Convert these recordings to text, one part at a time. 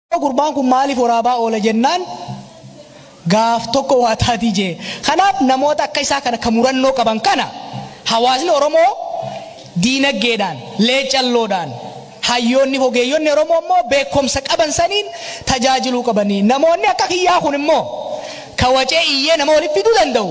Gurbaan kun maaliif waraabaa oola jennaan gaaf tokko waa taatii jee. Kanaaf namoota akka isaa kana ka murannoo qaban kana hawaasni Oromoo diinaggeedhaan, leecalloodhaan, hayyoonni hogeeyyonni Oromoo immoo beekkomsa qaban saniin tajaajiluu qabani. Namoonni akka kiyyaa kun immoo ka wacee iyyee nama wali fiduu danda'u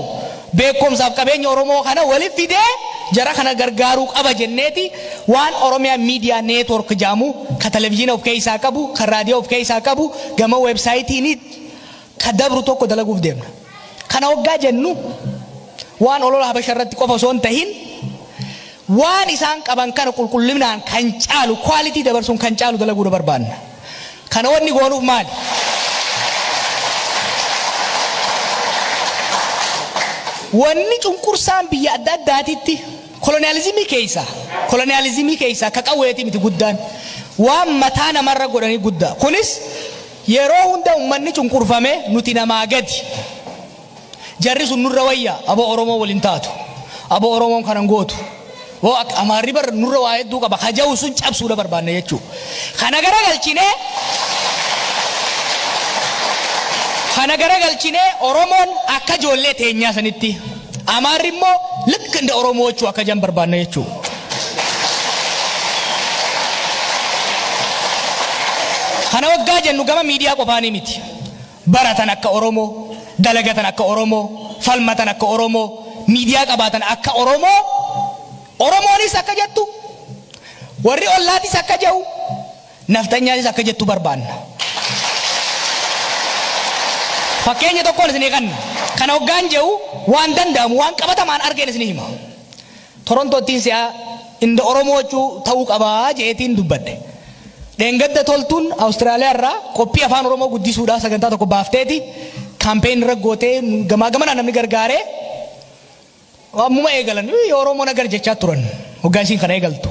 beekkomsaaf qabeenya Oromoo kana wali fidee jara kana gargaaruu qaba jenneeti waan Oromia Media Network ja'amu ka televizyina of keessaa qabu ka raadiyoo of keessaa qabu gama websayitiini ka dabru tokko dalaguuf deemna. Kana hoggaa jennu waan olola habasha irratti qofa osoo hin tahin waan isaan qaban kana qulqullinaan kan caalu quality dabarsuun kan caalu dalaguudha barbaanna. Kana wanni goonuuf maali? Wanni cunqursaan biyya adda addaatitti koloniyaalizimii keeysaa, koloniyaalizimii keeysaa ka qawweetii miti guddaan. Waan mataa namarra godhanii guddaa. Kunis yeroo hunda ummanni cunqurfamee nuti namaa gadi. Jarri sun nurra wayya abo oromoo wal hin taatu abo oromoon kana hin gootu woo akka amaarri bar nurra waa hedduu qaba ka ja'u sun cabsuudha barbaanna jechuu kana gara galchinee kana gara galchinee oromoon akka ijoollee teenyaa sanitti amaarri immoo likk inda oromoo jechuu akka jan barbaanna jechuu kana waggaa jennu gama miidiyaa qofaanii miti Baratan akka Oromoo, dalagatan akka Oromoo, falmatan akka Oromoo, miidiyaa qabaatan akka Oromoo, Oromoonis akka jettu, warri ollaatis akka je'u, nafxanyaanis akka jettu barbaanna. Fakkeenya tokkoon isinii kanna. Kana hoggaan je'u waan danda'amu, waan qabatamaan argeen isinii hima. Torontottiin si'a inda Oromoochuu ta'uu qaba je'eetiin dubbadhe. Dheengadda Toltuun Australia irraa qophii Afaan Oromoo guddisuudhaa sagantaa tokko baafteeti campaign irra gootee gamaa gamanaa namni gargaaree ammuma eegalan Oromoo nagar jechaa turan hoggaa isiin kana eegaltu.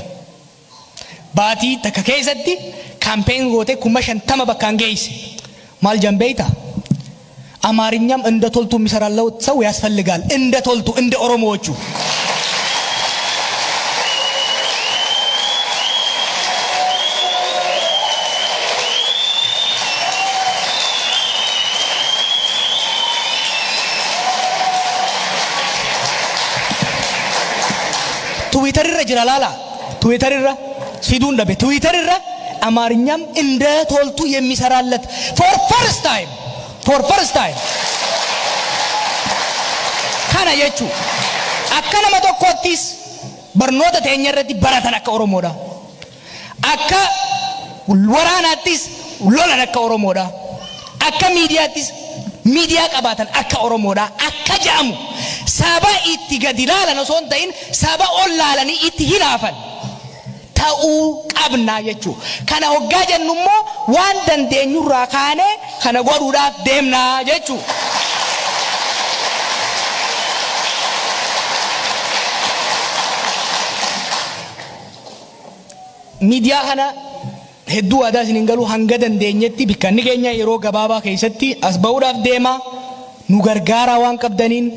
Baatii takka keessatti campaign gootee kuma shantama bakkaan geeyse. Maal jan beeyta? Amaarinyam inda toltu misarallau sau yasfalligaal. Inda toltu, inda oromoochu. Twitter irra jira laala. Twitter irra siduun dhabe Twitter irra Amaarinyam inda toltu yemmisaraallat for first time for first time kana jechu akka nama tokkoottis barnoota teenya irratti baratan akka Oromoodha akka waraanaattis lolan akka Oromoodha Akka miidiyaattis miidiyaa qabaatan akka Oromoodhaa akka ja'amu saba itti gadi laalan osoo hin ta'in saba ol laalanii itti hinaafan ta'uu qabna jechuu. Kana hoggaa jennu immoo waan dandeenyurraa kaanee kana godhuudhaaf deemna jechuu. Miidiyaa kana Hedduu waadaa isin hin galuu hanga dandeenyetti bikkanni keenya yeroo gabaabaa keessatti as ba'uudhaaf deemaa nu gargaaraa waan qabdaniin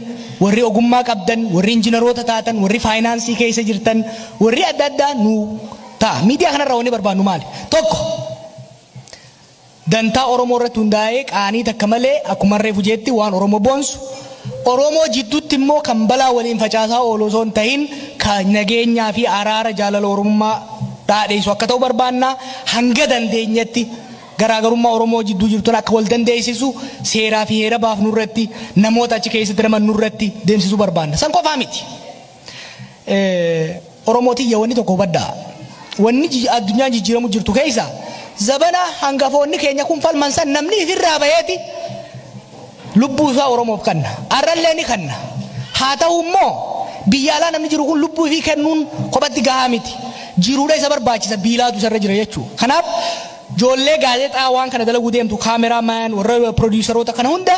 warri ogummaa qabdan warri injinaroota taatan warri faayinaansii keessa jirtan warri adda addaa nu ta'a miidiyaa kanarraa wanni barbaannu maali tokko dantaa oromoo irratti hundaa'ee qaanii takka malee akkuma reefu jeetti waan oromoo boonsu Oromoo jiddutti immoo kan balaa waliin facaasaa oolu osoo hin tahin ka nageenyaa fi araara jaalala Oromummaa dhaadheessu akka ta'u barbaanna. Hanga dandeenyetti garaagarummaa Oromoo jidduu jiru tana akka wal dandeessisu seeraa fi heera baafnu irratti namoota achi keessatti ramadnu irratti deemsisuu barbaanna. San qofaa miti. Oromoo tiyya wanni tokko hubadhaa. Wanni ji- addunyaan jijjiiramu jirtu keessa zabana hangafoonni keenya kun falman san namni ifirraa baheeti lubbuu isaa Oromoof kanna. Arrallee ni kanna. Haa ta'u immoo biyya alaa namni jiru kun lubbuu ifii kennuun kophatti gahaa miti. Jiruudha isa barbaachisa biilaatu isarra jira jechuudha. Kanaaf Joollee gaazexaa waan kana dalaguu deemtu, camera man, warra produceroota kana hunda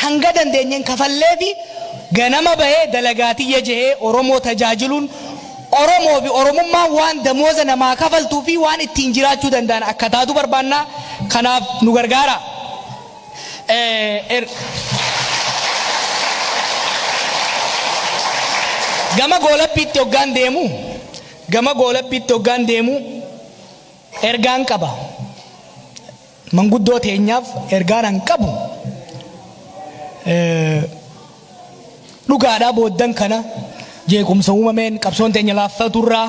hanga dandeenyeen kafalleefi ganama bahee dalagaa tiyya jehee Oromoo tajaajiluun Oromoofi Oromummaan waan damooza namaa kafaltuufi waan ittiin jiraachuu danda'an akka taatu barbaanna. Kanaaf nu gargaaraa. Gama goolabbiitti hoggaan deemu, gama goolabbiitti hoggaan deemu, Ergaan qaba. Manguddoo teenyaaf ergaan an qabu dhugaadhaa booddan kana jeequmsa uumameen qabsoon teenya laaffaturraa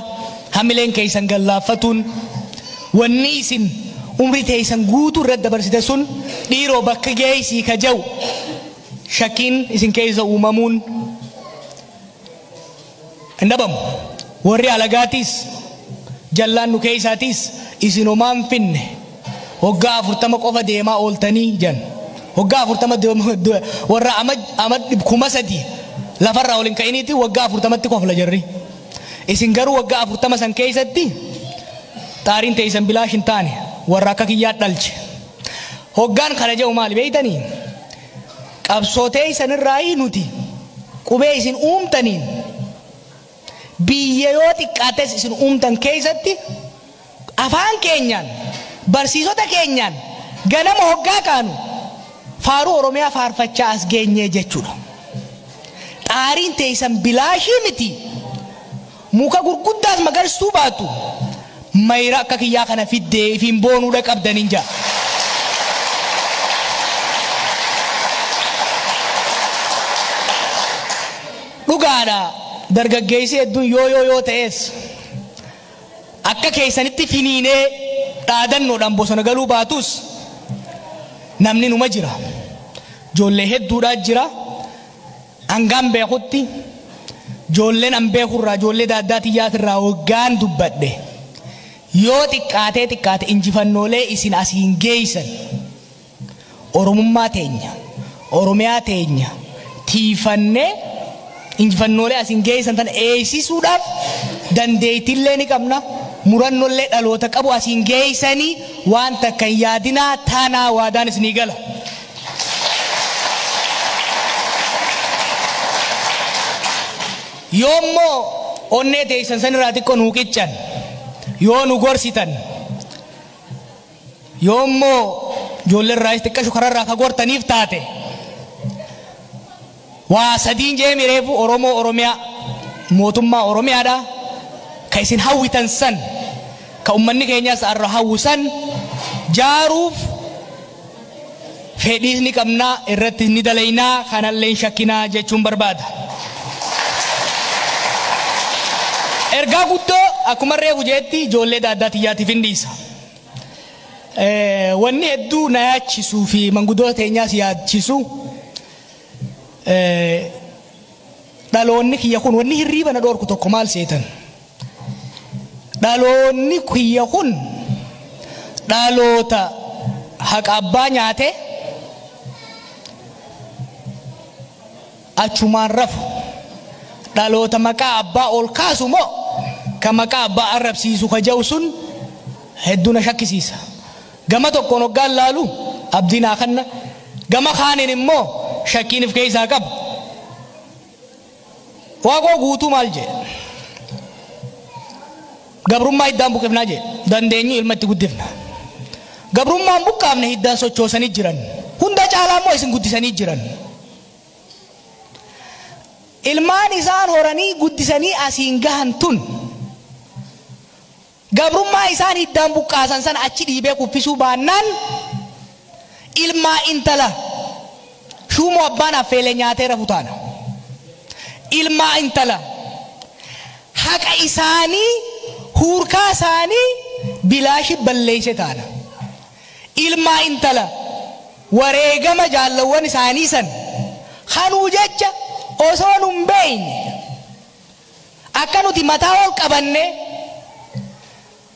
hamileen keessan gad laaffatuun wanni isin umrii teessan guutuu irratti dabarsite sun dhiiroo bakka geessii ka ja'u shakkiin isin keessa uumamuun hin dhabamu. Worri alagaatiis, jallaan nu keessaatiis, Isin homaa hin finne, woggaa afurtama qofa deemaa ooltanii? jedhan. Woggaa afurtama worra ama kuma sadii lafa irraa ol hin ka'iniitiin woggaa afurtamatti kofla jarri. Isin garuu woggaa afurtama san keessatti xaariin teessan bilaash hin taane, worra akka kiyyaa dhalche. Hoggaan kana jedhu maali beeytanii? Qabsoo teeysan irraayii nuti qubee isin uumtaniin biyya yoo xiqqaates isin uumtan keeysatti afaan keenyaan barsiisota keenyaan ganama hoggaa kaanu faaruu Oromiyaa faarfachaa as geenyee jechuudha. Xaariin teeysan bilaashii miti. Muka gurguddaas magarstuu baattu mayra akka kiyyaa kana fiddee ifiin boonuu dhaqabdanin ja. Dhugaadha dargaggeessi hedduun yoo yoo yoo ta'es akka keessanitti finiinee dhaadannoodhaan bosona galuu baatus namni numa jira. Ijoollee hedduudhaa jira. Hangaan beekutti ijoolleen an beeku irraa ijoollee daaddaa tiyyaas irraa hoggaan dubbadhe yoo xiqqaatee xiqqaate injifannoolee isin asiin geeysan Oromummaa teenya, Oromiyaa teenya tiifannee injifannoolee asiin geeysan tana eeysisuudhaaf dandeeytillee ni qabna murannollee dhaloota qabu asiin geeysanii waan takka hin yaadinaa tanaa waadaan isinii gala. Yoo immoo onnee teeysan san irraa xiqqo nuu qiccan yoo nu gorsitan yoo immoo ijoollee irraayis xiqqashu karaa irraa ka gortaniif taate Waa sadiin je'eemi reefu Oromoo Oromiyaa mootummaa Oromiyaadha ka isin hawwitan san ka ummanni keenyas arra hawwu san jaaruuf fedhiis ni qabna irrattis ni dalayna kanallee hin shakkina jechuun barbaada. Ergaa guddoo akkuman reefu je'etti ijoollee daaddaa tiyyaatiifin dhiisa. Wanni hedduu na yaachisuu fi mangudoota teenyaas yaachisu Dhaloonni kiyya kun wanni hirriiba na dhoorku tokko maal seetan? Dhaloonni kiyya kun dhaloota haqa abbaa nyaate achumaan rafu. Dhaloota maqaa abbaa ol kaasu moo ka maqaa abbaa arrabsiisu ka ja'u sun hedduu na shakkisiisa. Gama tokkoon hoggaan laalu abdii naa kanna, gama kaaniin immoo shakkiin if keessaa qaba. Waaqoo guutuu maal jedhe? Gabrummaa hiddaan buqifnaa jedhe. Dandeenyu ilma itti guddifna. Gabrummaan buqqaafne hiddaan sochoosanii jiran. Hunda caalaa immoo isin guddisanii jiran. Ilmaan isaan horanii guddisanii asiin gahan tun Gabrummaa isaan hiddaan buqqaasan sana achi dhiibee kuffisuu baannaan ilmaa intala shuumoo abbaan affeelee nyaatee rafu taana. Ilmaa intala haqa isaanii huurkaa isaanii bilaashi balleeyse taana. Ilmaa intala wareegama jaallawwan isaanii san kanuu jecha osoo nun beeyne Akka nuti mataa ol qabannee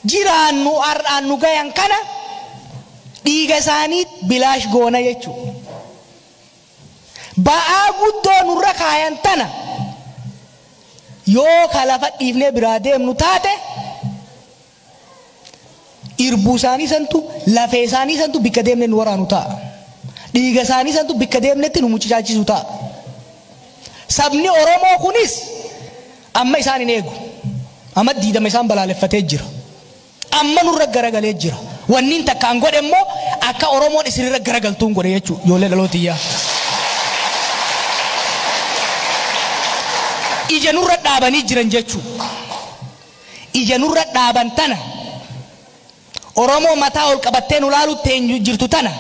jiraannu har'aan nu gayan kana dhiiga isaanii bilaash goona jechuu. Ba'aa guddoo nurra kaayan tana yoo ka lafa dhiifnee biraa deemnu taate Irbuu isaanii santu, lafee isaanii santu bikka deemne nu waraanu ta'a. Dhiiga isaanii santu bikka deemnetti nu mucucaachisu ta'a. Sabni Oromoo kunis amma isaan hin eegu. Amma diidama isaan balaaleffatee jira. Amma nurra garagalee jira. Wanniin takkaan godhe immoo akka Oromoon isinirra garagaltuun godhe jechuudha. Ijoollee dhalootiyyaa. Ija nurra dhaabanii jiran jechuudha. ija nurra dhaaban tana, Oromoo mataa ol qabattee nu laaluu teenyu jirtu tana,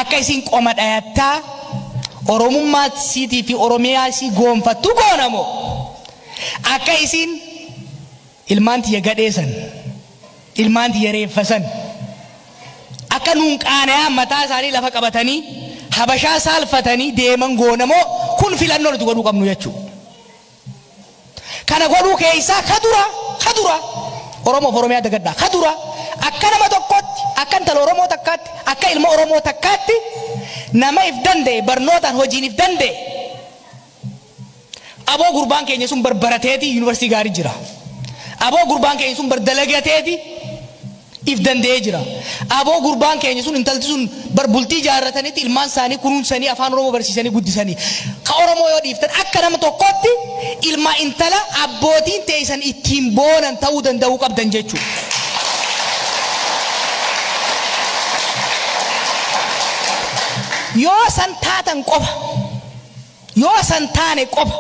akka isiin qoma dhayattaa Oromummaa isiitii fi Oromiyaa isii goonfattu goona moo, akka isiin ilmaan tiyya gadhee san, ilmaan tiyya reeffa san, akka nuun qaanayaan mataa isaanii lafa qabatanii Habashaa saalfatanii deeman goona moo, kun filannoo nuti godhuu qabnu jechuu. Kana godhuu keessaa ka dura, ka dura Oromoo fi Oromiyaa dagadhaa. Ka dura akka nama tokkootti, akka intala Oromoo takkaatti, akka ilma Oromoo takkaatti nama if danda'e, barnootaan, hojiin if danda'e aboo gurbaan keenya sun bar barateeti yunivarsiitii gaarii jira. Aboo gurbaan keenya sun bar dalagateeti if danda'ee jira. Aboo gurbaan keenya sun intalti sun bar bultii jaarratanitti ilmaan isaanii kunuunsanii afaan Oromoo barsiisanii guddisanii. Ka Oromoo yoo dhiiftan akka nama tokkootti ilma intala abbootiin teessan ittiin boonan ta'uu danda'uu qabdan jechuudha. Yoo san taatan qofa yoo san taane qofa.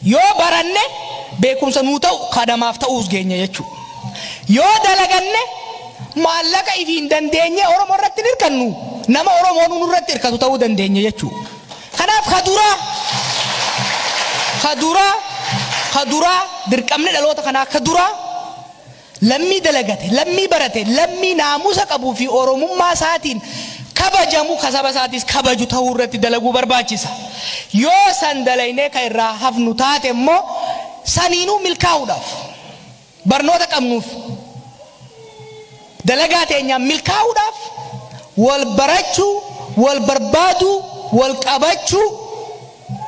Yoo baranne beekumsa nuu ta'u ka namaaf ta'uus geenya jechuu. Yoo dalaganne maallaqa ifiin dandeenyee Oromoo irratti hin hirkannu, nama Oromoonuu nurratti hirkatu ta'uu dandeenya jechuu. Kanaaf ka duraa, ka duraa, ka duraa dirqamni dhaloota kanaa ka duraa Lammii dalagate, lammii barate, lammii naamusa qabuu fi Oromummaa isaatiin kabajamu, ka saba isaatiis kabaju tahuu irratti dalaguu barbaachisa. Yoo san dalaynee ka irraa hafnu taate immoo saniinuu milkaa'uudhaaf barnoota qabnuuf dalagaa teenyaan milkaa'uudhaaf wal barachuu, wal barbaaduu, wal qabachuu,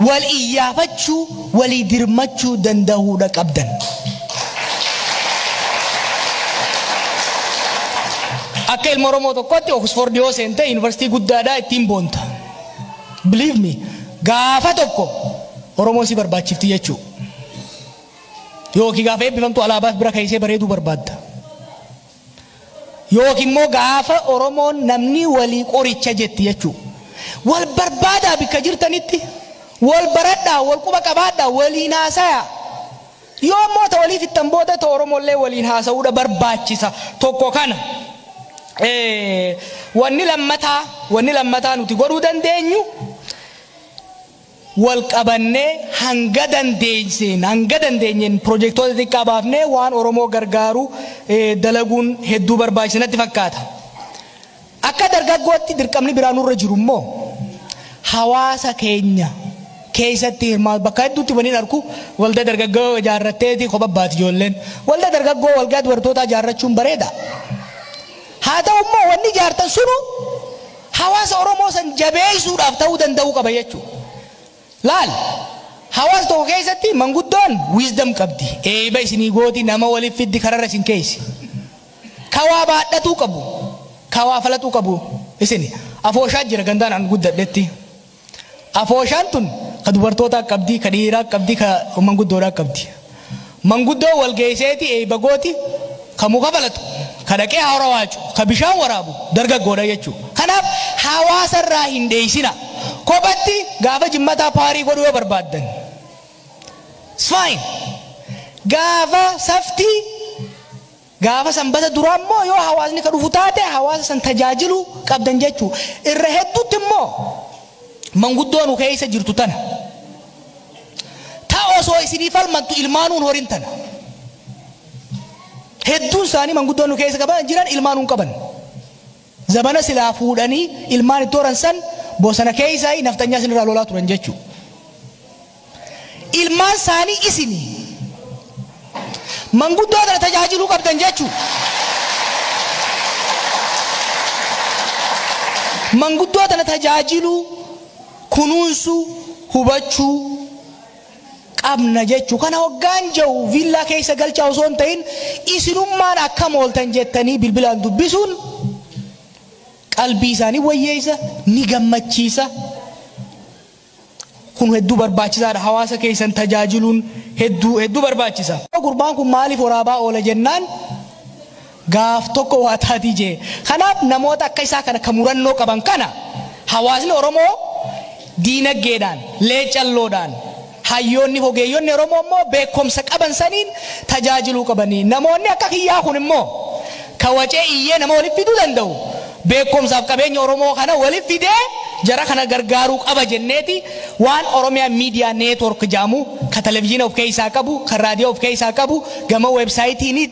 wal iyyaafachuu, walii dirmachuu dandahuudha qabdan. Akka ilma Oromoo tokkootti Oxford yoo seente University guddaadha ittiin boonta. Believe me, gaafa tokko Oromoo si barbaachifti jechuu. Yookiin gaafa eebbifamtu alaabaas bira keessee bareeduu barbaadda. Yookiin immoo gaafa Oromoon namni walii qoricha jetti jechuu. Wal barbaadaa bikka jirtanitti. Wal baradhaa, wal quba qabaadhaa, waliin haasayaa. Yoo immoo ta walii fixxan booda ta Oromollee waliin haasa'uudha barbaachisa. Tokko kana. Wanni lammataa, wanni lammataa nuti godhuu dandeenyu wal qabannee hanga dandeesseen hanga dandeenyeen pirojektoota xixiqqaa baafnee waan Oromoo gargaaru dalaguun hedduu barbaachisa natti fakkaata. Akka dargaggootti dirqamni biraa nurra jiru immoo hawaasa keenya keessatti hirmaatu bakka hedduutti waniin arku waldaa dargaggoo ijaarratteeti kopha baati ijoolleen. Waldaa dargaggoo waldaa dubartootaa ijaarrachuun bareeda. Haa ta'u immoo wanni ijaartan sunu Hawaasa Oromoo san jabeessuudhaaf ta'uu danda'uu qaba jechuu. Laal! Hawaasa tokko keessatti manguddoon wisdom qabdi. Eeyba isinii gooti, nama waliif fiddi, kararra isin keeysi. Ka waa baadhatuu qabu, ka waa falaxuu qabu isini. Afooshaa jira gandaan an guddadhetti. Afooshaan tun ka dubartootaa qabdi, ka dhiiraa qabdi, ka manguddoodhaa qabdi. Manguddoon wal geeyseeti eeyba gooti, ka muka falaxu, ka dhaqee hara waacu, ka bishaan waraabu dargaggoodha jechuu. Kanaaf hawaasa irraa hin dheeysinaa. Kophatti gaafa jimmataa paarii godhuu yoo barbaaddan it's fine. Gaafa saftii. Gaafa sanbata duraa immoo yoo hawaasni ka dhufu taate hawaasa san tajaajiluu qabdan jechuu. Irra hedduutti immoo manguddoo nu keessa jirtu tana. Ta osoo isinii falmattu ilmaanuu hin horin tana. Hedduun isaanii manguddoo nu keessa qaban jiran ilmaanuu hin qaban. Zabana silaa fuudhanii ilmaan itti horan san bosana keeysaayi nafxanyaa isinirraa lolaa turan jechuu. Ilmaan saanii isini. Manguddoo tana tajaajiluu qabdan jechuu. Manguddoo tana tajaajiluu, kunuunsuu, hubachuu. qabna jechu. Kana hoggaan ja'u viillaa keessa galchaa osoo hin ta'in isinummaan akkam ooltan jettanii bilbilaan dubbisuun qalbii isaa ni wayyeessa, ni gammachiisa. Kun hedduu barbaachisaadha. Hawaasa keessan tajaajiluun hedduu hedduu barbaachisa. Gurbaan kun maaliif waraabaa oola jennaan gaaf tokko waa taatii jee. Kanaaf namoota akka isaa kana ka murannoo qaban kana hawaasni Oromoo diinaggeedhaan, leecalloodhaan, hayyoonni hogeeyyonni Oromoo immoo beekkomsa qaban saniin tajaajiluu qabanii. Namoonni akka kiyyaa kun immoo ka wacee iyyee nama walitti fiduu danda'u beekkomsaaf qabeenya Oromoo kana walitti fidee jara kana gargaaruu qaba jenneeti waan Oromia Media Network jedhamu ka televizyina of keessaa qabu, ka raadiyoo of keessaa qabu, gama website niit,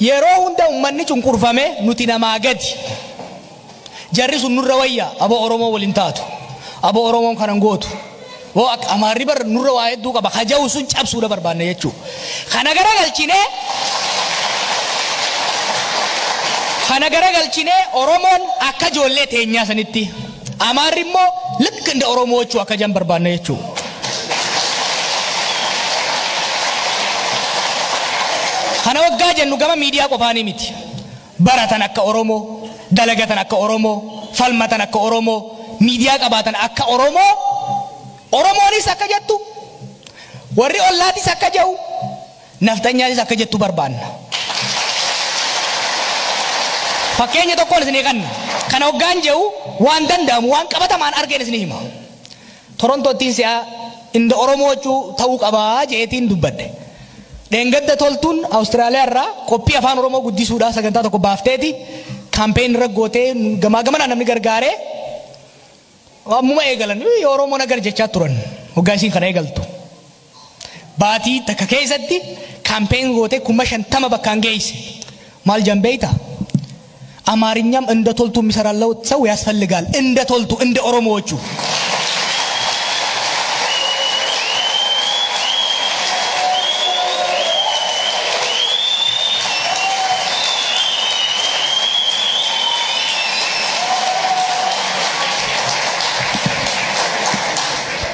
Yeroo hunda ummanni cunqurfamee nuti namaa gadi. Jarri sun nurra wayya abo Oromoo wal hin taatu. Abo Oromoon kana hin gootu. Woo akka Amaarri bar nurra waa hedduu qaba ka ja'u sun cabsuudha barbaanna jechuu. Kana garagalchinee kana garagalchinee Oromoon akka ijoollee teenyaa sanitti. Amaarri immoo likk inda Oromoochuu akka jan barbaanna jechuu. Kana waggaa jennu gama miidiyaa qofaanii miti. Baratan akka Oromoo, dalagatan akka Oromoo, falmatan akka Oromoo, miidiyaa qabaatan akka Oromoo, Oromoonis akka jettu, warri ollaatis akka jehu, Nafxanyaanis akka jettu barbaanna. Fakkeenya tokkoon isinii kanna. Kana oggaan je'u waan danda'amu, waan qabatamaan argeen isinii hima. Torontoottiin si'a inda Oromoo jechuu ta'uu qaba je'eetiin dubbadhe. Dheengadda Toltuun Awustiraaliyaa irraa qophii Afaan Oromoo guddisuudhaa sagantaa tokko baafteeti campaign irra gootee gamaa gamanaa namni gargaaree ammuma eegalan Oromoon agar jechaa turan hoggaa isiin kana eegaltu. Baatii takka keessatti campaign gootee kuma shantama bakkaan geeyse. Maal jedhan beeyta? Amaarinyam inda toltu misara lawut sawu yaasfalligaal. Inda toltu, inda Oromoo jechuu.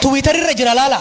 Twitter irra jira laala.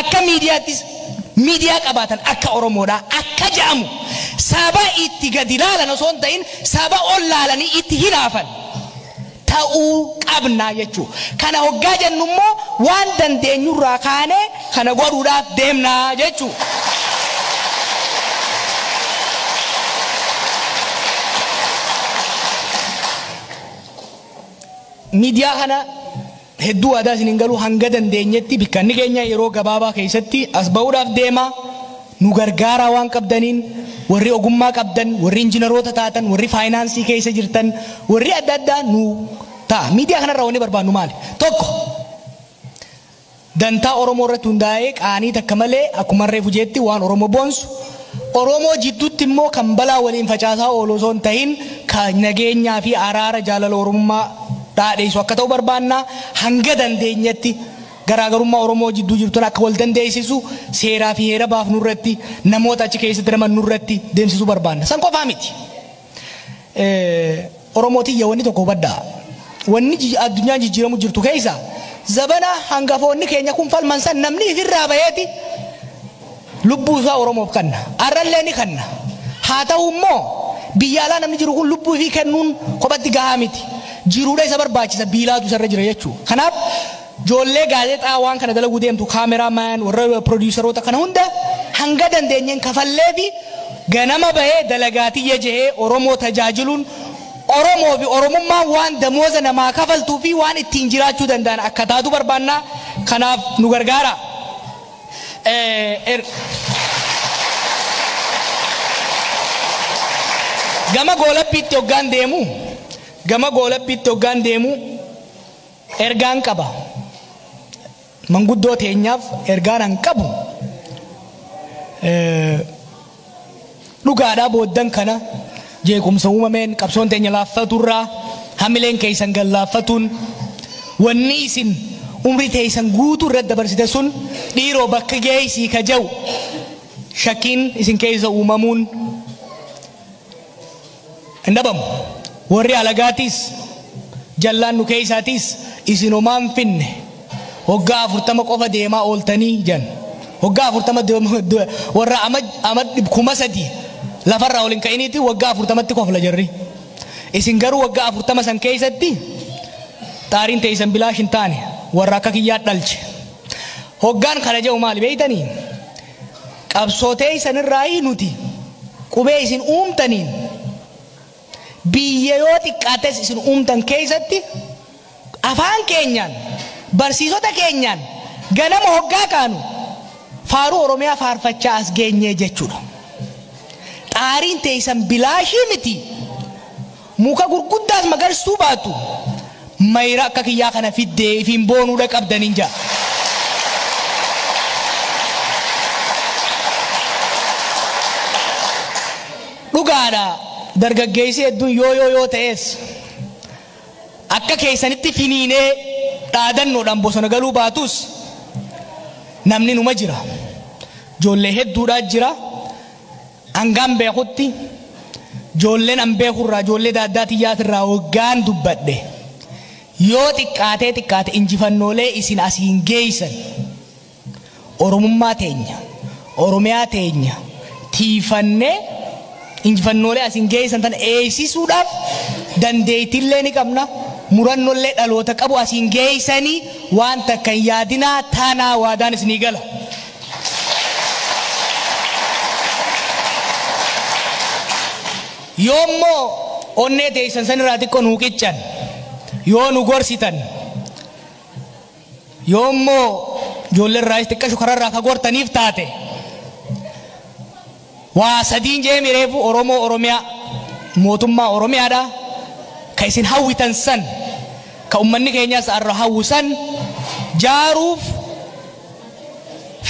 Akka miidiyaattis miidiyaa qabaatan akka Oromoodhaa akka ja'amu saba itti gadi laalan osoo hin ta'in saba ol laalanii itti hinaafan ta'uu qabna jechuu. Kana hoggaa jennu immoo waan dandeenyurraa kaanee kana godhuudhaaf deemna jechuu. Miidiyaa kana Hedduu waadaa isin hin galuu hanga dandeenyetti bikkanni keenya yeroo gabaabaa keessatti as ba'uudhaaf deema nu gargaaraa waan qabdaniin warri ogummaa qabdan warri injinaroota taatan warri faayinaansii keessa jirtan warri adda addaa nu ta'a miidiyaa kanarraa wanni barbaannu maali tokko dantaa oromoo irratti hundaa'ee qaanii takka malee akkuma reefu jeetti waan oromoo boonsu Oromoo jidduutti immoo kan balaa waliin facaasaa oolu osoo hin tahin ka nageenyaa fi araara jaalala Oromummaa dhaadheessu akka ta'u barbaanna. Hanga dandeenyetti garaagarummaa Oromoo jidduu jiru tana akka wal dandeessisu seeraa fi heera baafnu irratti, namoota achi keessatti ramadnu irratti deemsisuu barbaanna. San qofaa miti. Oromoo tiyya wanni tokko hubadhaa. Wanni ji- addunyaan jijjiiramu jirtu keessa zabana hangafoonni keenya kun falman san namni ifirraa baheeti lubbuu isaa Oromoof kanna. Arrallee ni kanna. Haa ta'u immoo biyya alaa namni jiru kun lubbuu ifii kennuun kophatti gahaa miti. Jiruudha isa barbaachisa biilaatu isarra jira jechuudha. Kanaaf Joollee gaazexaa waan kana dalaguu deemtu, camera man, warra produceroota kana hunda hanga dandeenyeen kafalleefi ganama bahee dalagaa tiyya jehee Oromoo tajaajiluun Oromoo fi Oromummaan waan damooza namaa kafaltuu fi waan ittiin jiraachuu danda'an akka taatu barbaanna. Kanaaf nu gargaaraa. Er. Gama goolabbiitti hoggaan deemu, gama goolabbiitti hoggaan deemu, Ergaan qaba. Manguddoo teenyaaf ergaan an qabu dhugaadhaa booddan kana jeequmsa uumameen qabsoon teenya laaffaturraa hamileen keessan gad laaffatuun wanni isin umrii teessan guutuu irratti dabarsite sun dhiiroo bakka geessii ka ja'u shakkiin isin keessa uumamuun hin dhabamu. Worri alagaatiis, jallaan nu keeysaatiis isin homaa hin finne. Woggaa afurtama qofa deemaa ooltanii? jedhan. Woggaa afurtama worra ama kuma sadii lafarraa ol hin ka'iniiti woggaa afurtamatti kofla jarri. Isin garuu woggaa afurtama san keeysatti xaariin teeysan bilaash hin taane. Worra akka kiyyaa dhalche. Hoggaan kana je'u maali beeytanii? Qabsoo teeysan irraayii nuti qubee isin uumtaniin biyya yoo xiqqaates isin uumtan keeysatti afaan keenyaan barsiisota keenyaan ganama hoggaa kaanu faaruu Oromiyaa faarfachaa as geenye jechuudha. Xaariin teeysan bilaashii miti. Muka gurguddaas magarstuu baattu mayra akka kiyyaa kana fiddee ifiin boonuu dhaqabdaniin ja'a. Dhugaadha dargaggeessi hedduun yoo yoo yoo ta'es akka keessanitti finiinee dhaadannoodhaan bosona galuu baatus namni numa jira. Ijoollee hedduudhaa jira. Hangaan beekutti ijoolleen an beeku irraa ijoollee daaddaa tiyyaati irraa waggaan dubbadhe yoo xiqqaatee xiqqaate injifannoolee isin asiin geeysan Oromummaa teenya Oromiyaa teenya tiifannee injifannoolee asiin geeysan tan eeysisuudhaaf dandeeytillee ni qabna murannollee dhaloota qabu asiin geeysanii waan takka hin yaadinaa taanaa waadaan isinii gala. Yoo immoo onnee teessan san irraa xiqqoo nuu qiccan yoo nu gorsitan yoo immoo ijoollee irraayis xiqqashu karaa irraa ka gortaniif taate Waa sadiin je'eemi reefu Oromoo Oromiyaa mootummaa Oromiyaadhaa ka isin hawwitan san ka ummanni keenyas arra hawwu san jaaruuf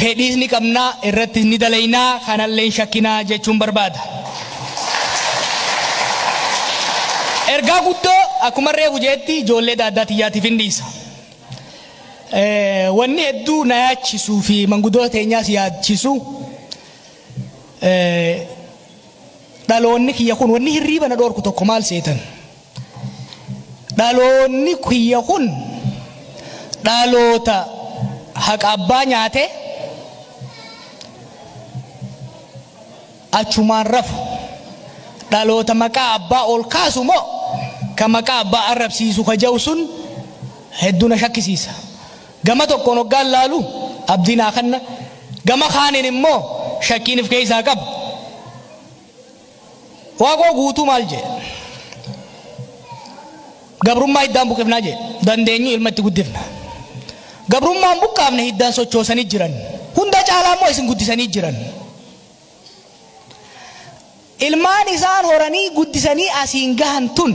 fedhiis ni qabna irrattis ni dalayna kanallee hin shakkina jechuun barbaada. Ergaa guddoo akkuman reefu je'etti ijoollee daaddaa tiyyaatiifin dhiisa. Wanni hedduu na yaachisuu fi mangudoota teenyaas yaachisu Dhaloonni kiyya kun wanni hirriiba na dhoorku tokko maal seetan? Dhaloonni kiyya kun dhaloota haqa abbaa nyaate achumaan rafu. Dhaloota maqaa abbaa ol kaasu moo ka maqaa abbaa arrabsiisu ka ja'u sun hedduu na shakkisiisa. Gama tokkoon hoggaan laalu abdii naa kanna, gama kaaniin immoo shakkiin if keessaa qaba. Waaqoo Guutuu maal jedhe? Gabrummaa hiddaan buqifnaa jedhe. Dandeenyu ilma itti guddifna. Gabrummaan buqqaafne hiddaan sochoosanii jiran. Hunda caalaa immoo isin guddisanii jiran. Ilmaan isaan horanii guddisanii asiin gahan tun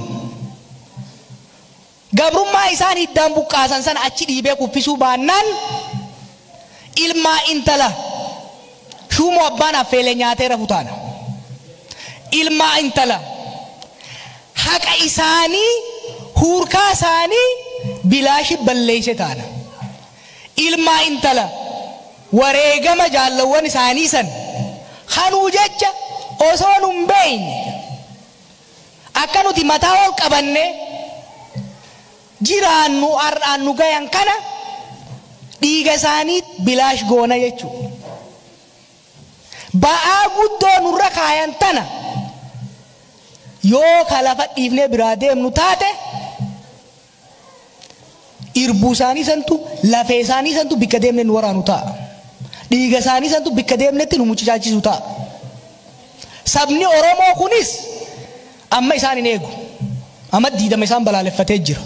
Gabrummaa isaan hiddaan buqqaasan sana achi dhiibee kuffisuu baannaan ilmaa intala shuumoo abbaan affeele nyaatee rafu taana. Ilmaa intala haqa isaanii huurkaa isaanii bilaashi balleeyse taana. Ilmaa intala wareegama jaallawwan isaanii san kanuu jecha osoo nun beeyne Akka nuti mataa ol qabannee jiraannu har'aan nu gayan kana dhiiga isaaniit bilaash goona jechuu. Ba'aa guddoo nurra kaayan tana yoo ka lafa dhiifnee biraa deemnu taate, Irbuu isaanii santu, lafee isaanii santu bikka deemne nu waraanu ta'a. Dhiiga isaanii santu bikka deemnetti nu mucucaachisu ta'a. Sabni Oromoo kunis amma isaan hin eegu. Amma diidama isaan balaaleffatee jira.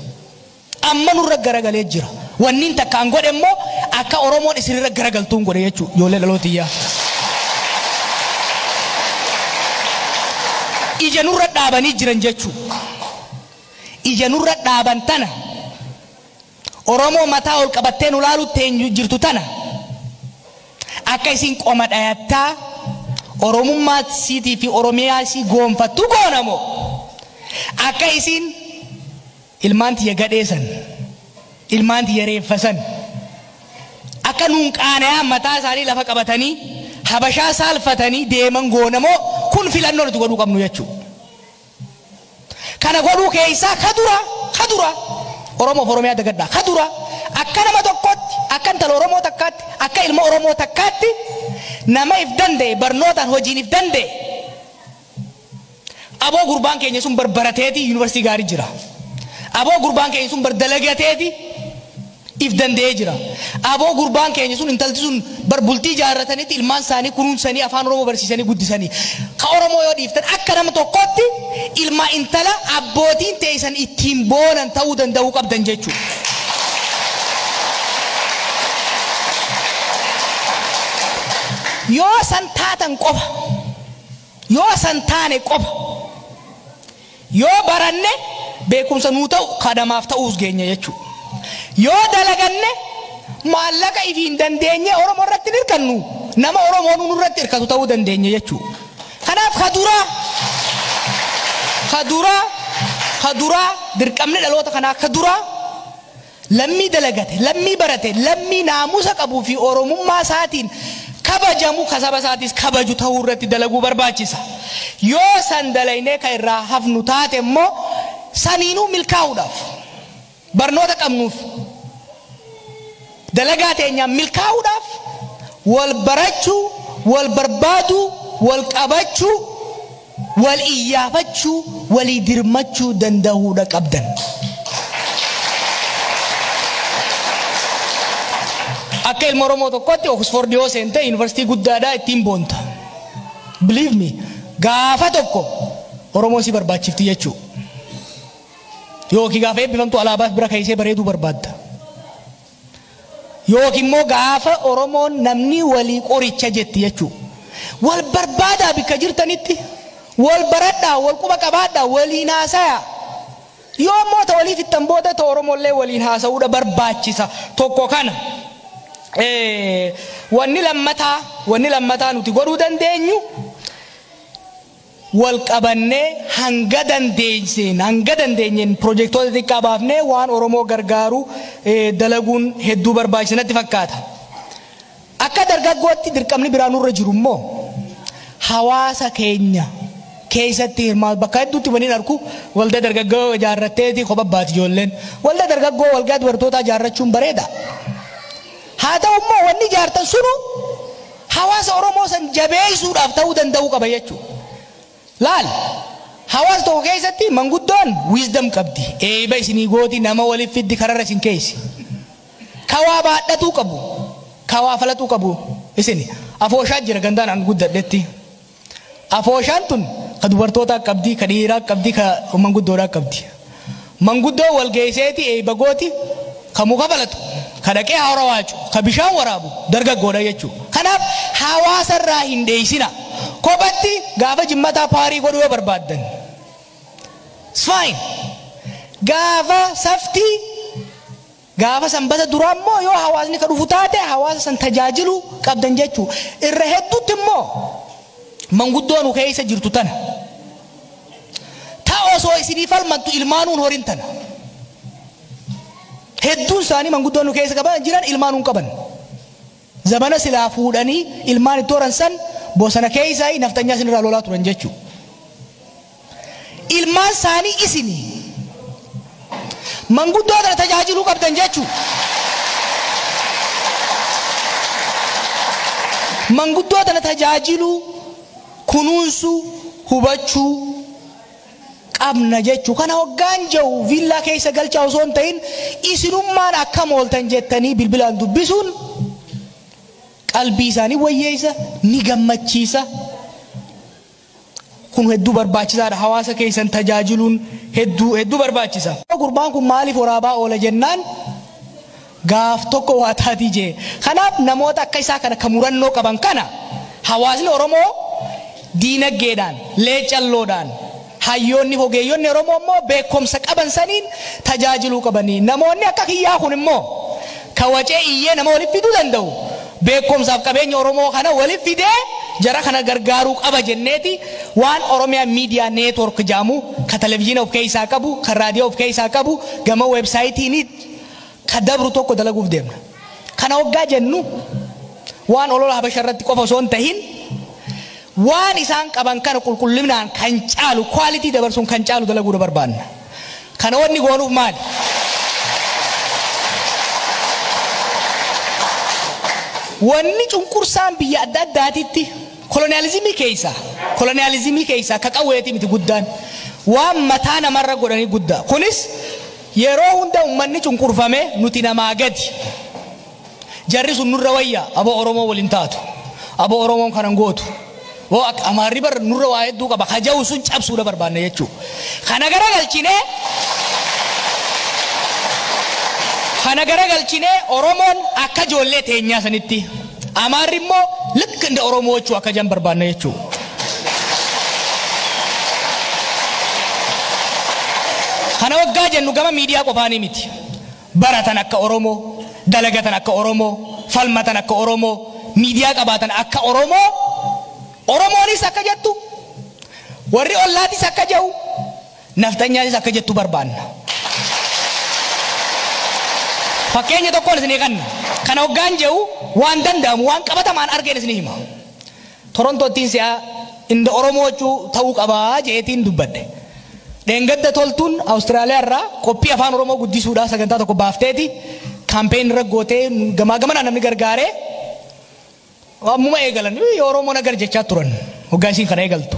Amma nurra garagalee jira. Wanniin takkaan godhe immoo akka Oromoon isinirra garagaltuun godhe jechuudha. Ijoollee dhalootiyyaa. Ija nurra dhaabanii jiran jechuudha. ija nurra dhaaban tana, Oromoo mataa ol qabattee nu laaluu teenyu jirtu tana, akka isiin qoma dhayattaa Oromummaa isiitii fi Oromiyaa isii goonfattu goona moo, akka isiin ilmaan tiyya gadhee san, ilmaan tiyya reeffa san, akka nuun qaanayaan mataa isaanii lafa qabatanii Habashaa saalfatanii deeman goona moo, kun filannoo nuti godhuu qabnu jechuu. Kana godhuu keessaa ka duraa, ka duraa, Oromoof Oromiyaa dagadhaa, ka duraa, akka nama tokkootti, akka intala Oromoo takkaatti, akka ilma Oromoo takkaatti, nama if danda'e, barnootaan, hojiin if danda'e, aboo gurbaan keenya sun bar barateeti, University gaarii jira, aboo gurbaan keenya sun bar dalagateeti, if danda'ee jira. Aboo gurbaan keenya sun intalti sun bar bultii jaarratanitti ilmaan isaanii kunuunsanii afaan oromoo barsiisanii guddisanii. Ka oromoo yoo dhiiftan akka nama tokkootti ilma intala abbootiin teeysan ittiin boonan ta'uu danda'uu qabdan jechuudha. Yoo san taatan qofa yoo san taane qofa. Yoo baranne beekumsa nuu ta'u ka namaaf ta'uus geenya jechuu. Yoo dalaganne maallaqa ifiin dandeenyee Oromoo irratti hin hirkannu, nama Oromoonuu nurratti hirkatu ta'uu dandeenya jechuu. Kanaaf ka duraa, ka duraa, ka duraa dirqamni dhaloota kanaa ka duraa, Lammii dalagate, lammii barate, lammii naamusa qabuu fi Oromummaa isaatiin kabajamu, ka saba isaatiis kabaju tahuu irratti dalaguu barbaachisa. Yoo san dalaynee ka irraa hafnu taate immoo saniinuu milkaa'uudhaaf barnoota qabnuuf dalagaa teenyaan milkaa'uudhaaf wal barachuu, wal barbaaduu, wal qabachuu, Wal iyyaafachuu, walii dirmachuu dandahuudha qabdan. Akka ilma Oromoo tokkootti Oxford yoo seente University guddaadha ittiin boonta. Believe me, gaafa tokko Oromoon si barbaachifti jechuu. Yookiin gaafa eebbifamtu alaabaas bira keessee bareeduu barbaadda. Yookiin immoo gaafa Oromoon namni walii qoricha jetti jechuu. Wal barbaadaa bikka jirtanitti. Wal baradhaa, wal quba qabaadhaa, waliin haasayaa. Yoo immoo ta walii fixxan booda ta Oromollee waliin haasa'uudha barbaachisa. Tokko kana. Wanni lammataa, wanni lammataa nuti godhuu dandeenyu wal qabannee hanga dandeesseen hanga dandeenyeen pirojektoota xiqqaa baafnee waan Oromoo gargaaru dalaguun hedduu barbaachisa natti fakkaata. Akka dargaggootti dirqamni biraa nurra jiru immoo hawaasa keenya keessatti hirmaatu bakka hedduutti waliin arku waldaa dargaggoo ijaarratteeti kopha baati ijoolleen waldaa dargaggoo waldaa dubartootaa ijaarrachuun bareeda. Haa ta'u immoo wanni ijaartan sunu Hawaasa Oromoo san jabeessuudhaaf ta'uu danda'uu qaba jechuudha. Laal, hawaasa tokko keessatti manguddoon wisdom qabdi, eeyba isinii gooti, nama walitti fiddi, kararra isin keeysi. Ka waa baadhatuu qabu, ka waa falaxuu qabu isini. Afooshaa jira gandaan an guddadhetti. Afooshaan tun ka dubartootaa qabdi, ka dhiiraa qabdi, ka manguddoodhaa qabdi. Manguddoon wal geesseeti eeyba gooti, ka muka falatu, ka dhaqee haara waacu, ka bishaan waraabu dargaggoodha jechuu. Kanaaf hawaasa irraa hin dheeysinaa. Kophatti gaafa jimmataa paarii godhuu yoo barbaaddan it's fine. Gaafa saftii. Gaafa sanbata duraa immoo yoo hawaasni ka dhufu taate hawaasa san tajaajiluu qabdan jechuu. Irra hedduutti immoo manguddoo nu keessa jirtu tana. Ta osoo isinii falmattu ilmaanuu hin horin tana. Hedduun isaanii manguddoo nu keessa qaban jiran ilmaanuu hin qaban. Zabana silaa fuudhanii ilmaan itti horan san bosana keessaayii nafxanyaa isinirraa lolaa turan jechuu. Ilmaan saanii isini. Manguddoo tana tajaajiluu qabdan jechuu. Manguddoo tana tajaajiluu, kunuunsuu, hubachuu. qabna jechu. Kana hoggaan jehu viillaa keessa galchaa osoo hin tahin isinummaan akkam ooltan jettanii bilbilaan dubbisuun qalbii isaa ni wayyeessa, ni gammachiisa. Kun hedduu barbaachisaadha. Hawaasa keessan tajaajiluun hedduu hedduu barbaachisa. Gurbaan kun maaliif waraabaa oola jennaan gaaf tokko waa taatii jee. Kanaaf namoota akka isaa kana ka murannoo qaban kana hawaasni Oromoo diinaggeedhaan, leecalloodhaan, hayyoonni fi ogeeyyonni Oromoo immoo beekkomsa qaban saniin tajaajiluu qabanii. Namoonni akka kiyyaa kun immoo ka wacee iyyee nama walitti fiduu danda'u beekkomsaa fi qabeenya Oromoo kana walitti fidee jara kana gargaaruu qaba jenneeti waan Oromia Media Network jedhamu ka televijiina of keessaa qabu, ka raadiyoo of keessaa qabu, gama website niit, ka dabru tokko dalaguuf deemna. Kana hoggaa jennu waan olola Habasha irratti qofa osoo hin tahin waan isaan qaban kana qulqullinaan kan caalu quality dabarsuun kan caalu dalaguudha barbaanna. Kana wanni goonuuf maali? Wanni cunqursaan biyya adda addaatitti koloniyaalizimii keeysaa koloniyaalizimii keeysaa ka qawweetii miti guddaan waan mataa namarra godhanii guddaa kunis Yeroo hunda ummanni cunqurfame nuti namaa gadi. Jarri sun nurra wayya abo Oromoo wal hin taatu. Abo Oromoon kana hin gootu. Woo akka Amaarri bar nurra waa hedduu qaba ka ja'u sun cabsuudha barbaanna jechuu. Kana garagalchinee kana garagalchinee Oromoon akka ijoollee teenyaa sanitti. Amaarri immoo likk inda Oromoochuu akka jedhan barbaanna jechuudha. Kana waggaa jennu gama miidiyaa qofaanii miti. Baratan akka Oromoo, dalagatan akka Oromoo, falmatan akka Oromoo, miidiyaa qabaatan akka Oromoo, Oromoonis akka jettu, warri ollaatis akka jedhu, Nafxanyaanis akka jettu barbaanna. Fakkeenya tokkoon isinii kanna. Kana oggaan je'u waan danda'amu, waan qabatamaan argeen isinii hima. Torontoottiin si'a inda Oromoochuu ta'uu qaba je'eetiin dubbadhe. Dheengadda Toltuun Awustiraaliyaa irraa qophii Afaan Oromoo guddisuudhaa sagantaa tokko baafteeti campaign irra gootee gamaa gamanaa namni gargaaree ammuma eegalan Oromoo nagar jechaa turan hoggaa isiin kana eegaltu.